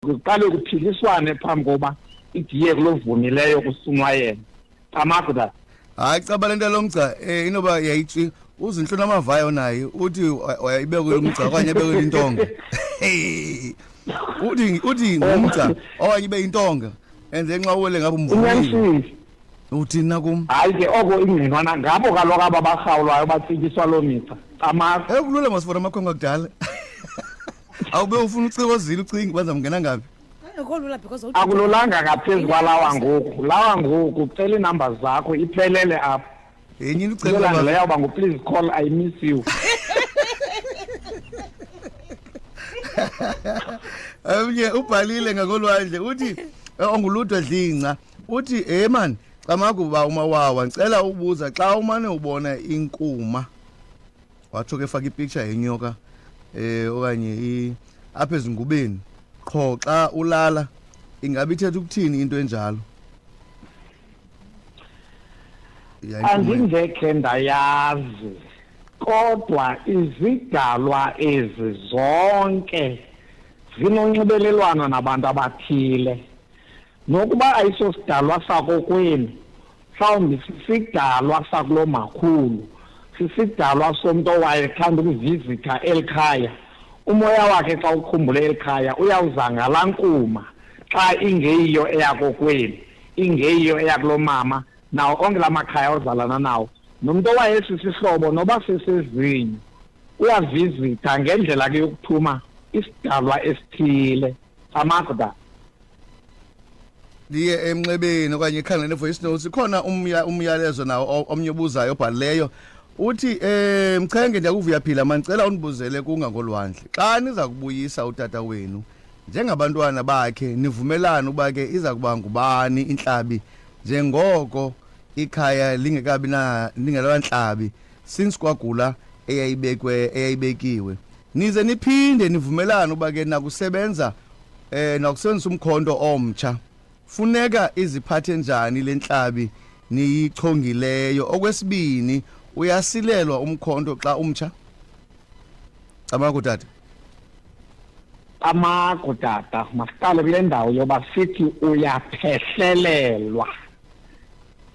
kuqale kuphiliswane phambi koba idiye kulovunileyo kusunwa yena camagu that hayi caba le nto lomgca um eh, inoba yayitshi uzinhlu namavayo naye uthi wayibekwe lomgca okanye ebekwe intonga uthi uthi ngumgca okanye ibe intonga and then nxa uwele ngabe umvumile uthina kum hayi ke oko ingqinwana ngabo kaloku aba barhawulwayo batsityiswa loo migca camagu ekulula masifona amakhwenkwe akudala awube ufuna ucirozile ucinga uba ndizamngena ngaphi Ayikho lula because awuthi- akululanga ngaphezu kwalawa ngoku lawa ngoku cela iinumber zakho iphelele apho yenye into ucela yolandela uba- yawuba nguplease call i miss you omnye ubhalile ngakolwandle uthi eh, onguludwe dlinca uthi hey mani camakuba umawawa ndicela ubuza xa umane ubona inkuma watsho ke faka ipicture yenyoka eh okanye i apha ezingubeni qho xa ulala ingabe ithetha ukuthini into enjalo andingekhe ndayazi kodwa izidalwa ezi zonke zinonxibelelwano nabantu abathile nokuba ayisosidalwa sakokwenu mhlawumbi sisidalwa sakulo makhulu sisidalwa somntu owayethanda ukuvizitha eli khaya umoya wakhe xa ukhumbule eli khaya uyawuzangala nkuma xa ingeyiyo eyakokwenu ingeyiyo eyakulo mama nawo onke la makhaya ozalana nawo nomntu owayesisihlobo noba sesezinye uyavizitha ngendlela ke yokuthuma isidalwa esithile amagda ndiye emnxebeni okanye ikhangele ne-voice notes ikhona umyalezo nawo omnye obuzayo obhalileyo uthi um mchenge ndiyakuvuya phila mandicela undibuzele kungangolwandle xa niza kubuyisa utata wenu njengabantwana bakhe nivumelane uba ke iza kuba ngubani intlabi njengoko ikhaya lingekabi na lingelantlabi since kwagula eyayibekwe eyayibekiwe nize niphinde nivumelane uba ke nakusebenza eh nokusenzisa umkhonto omtsha funeka iziphathe njani lentlabi niyichongileyo okwesibini uyasilelwa umkhonto xa umtsha amaku tata amaku tata masiqale kule ndawo yoba sithi uyaphehlelelwa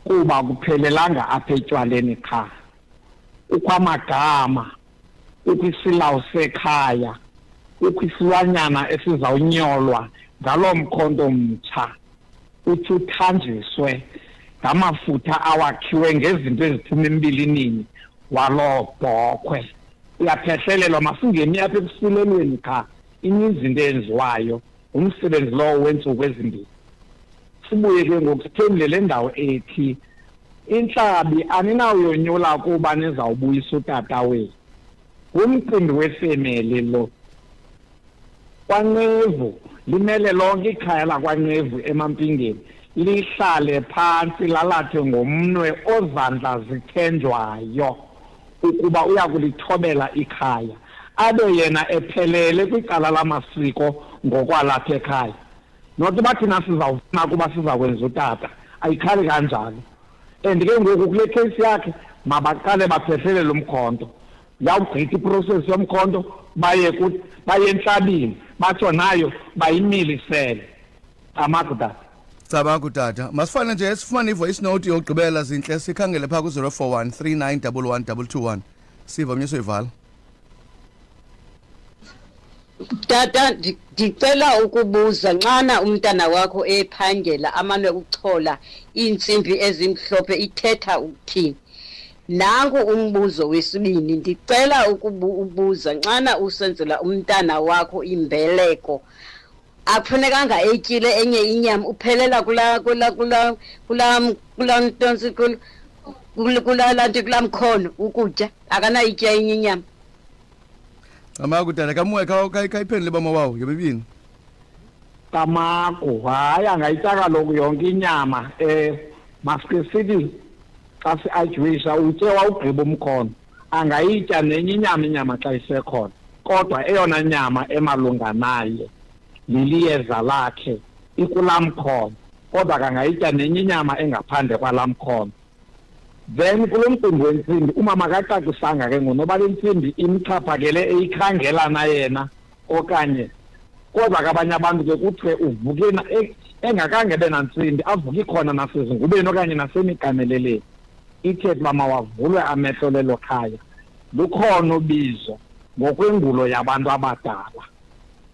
kuba kuphelelanga apha etywaleni qha ukwamagama kukho isilawu sekhaya kukho isilwanyana esizawunyolwa ngaloo mkhonto mtsha uthi uthanjiswe ngamafutha awakhiwe ngezinto eziphuma embilinini waloo bhokhwe uyaphehlelelwa masingemi apha ekusilelweni qha ininzi into eyenziwayo ngumsebenzi lowo wentsuku ezimbini sibuye ke ngoku sithemle le ndawo ethi intlabi aninawuyonyula kuba nizawubuyisa utata wenu ngumcimbi wefemeli lo kwanqevu limele lonke ikhaya lakwanqevu emampingeni lihlale phantsi lalathe ngomnwe ozandla zithenjwayo ukuba uya kulithobela ikhaya abe yena ephelele kwicala lamasiko ngokwalapha ekhaya not uba thina sizawufuna ukuba siza kwenza utata ayikhali kanjalo and ke ngoku kule case yakhe mabaqale baphehlele lo mkhonto yawugqitha iprocess yomkhonto baye baye entlabini batsho nayo bayimilisele amagudata Cabangu tata, masifane nje sifumane i-voice note yokugqibela zintle sikhangele phaa ku-041 3911221 siva omnye soyivala. Tata ndi- ndicela ukubuza nxana umntana wakho ephangela amane ukuchola iintsimbi ezimhlophe ithetha ukuthini? Nanku umbuzo wesibini ndicela ukubuza nxana usenzela umntana wakho imbeleko akufunekanga etyile enye inyama uphelela kula kula kula kula kula ntonsi kula kula lanti kula mkhono ukutya akanayitya enye inyama camaku tata kamoya kayiphendule bama wawo yomibini camaku hayi angayitya kaloku yonke inyama um eh, masike sithi xa si-ajuwisha utye wawugqiba umkhono angayitya nenye inyama inyama xa isekhona kodwa eyona nyama emalunga naye liliyeza lakhe ikulaa mkhono kodwa kangayitya nenye inyama engaphandle kwalaa mkhono then kulo mcimbi wentsimbi umama akacacisanga ke ngonoba le ntsimbi imxhaphakele eyikhangela na yena okanye kodwa ke abanye abantu ke kuthiwe uvuke e, engakange be nantsimbi avuke ikhona nasezingubeni okanye nasemiganeleleni ithe uba mawavulwe amehlo lelo khaya lukhona ubizo ngokwengulo yabantu abadala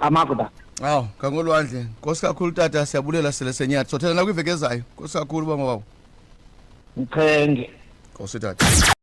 amakuda awu ngangolwandle nkosi kakhulu tata siyabulela sele senyathi sothela nakwiveki ezayo nkosi kakhulu uba mawawo mchenge nkosi tata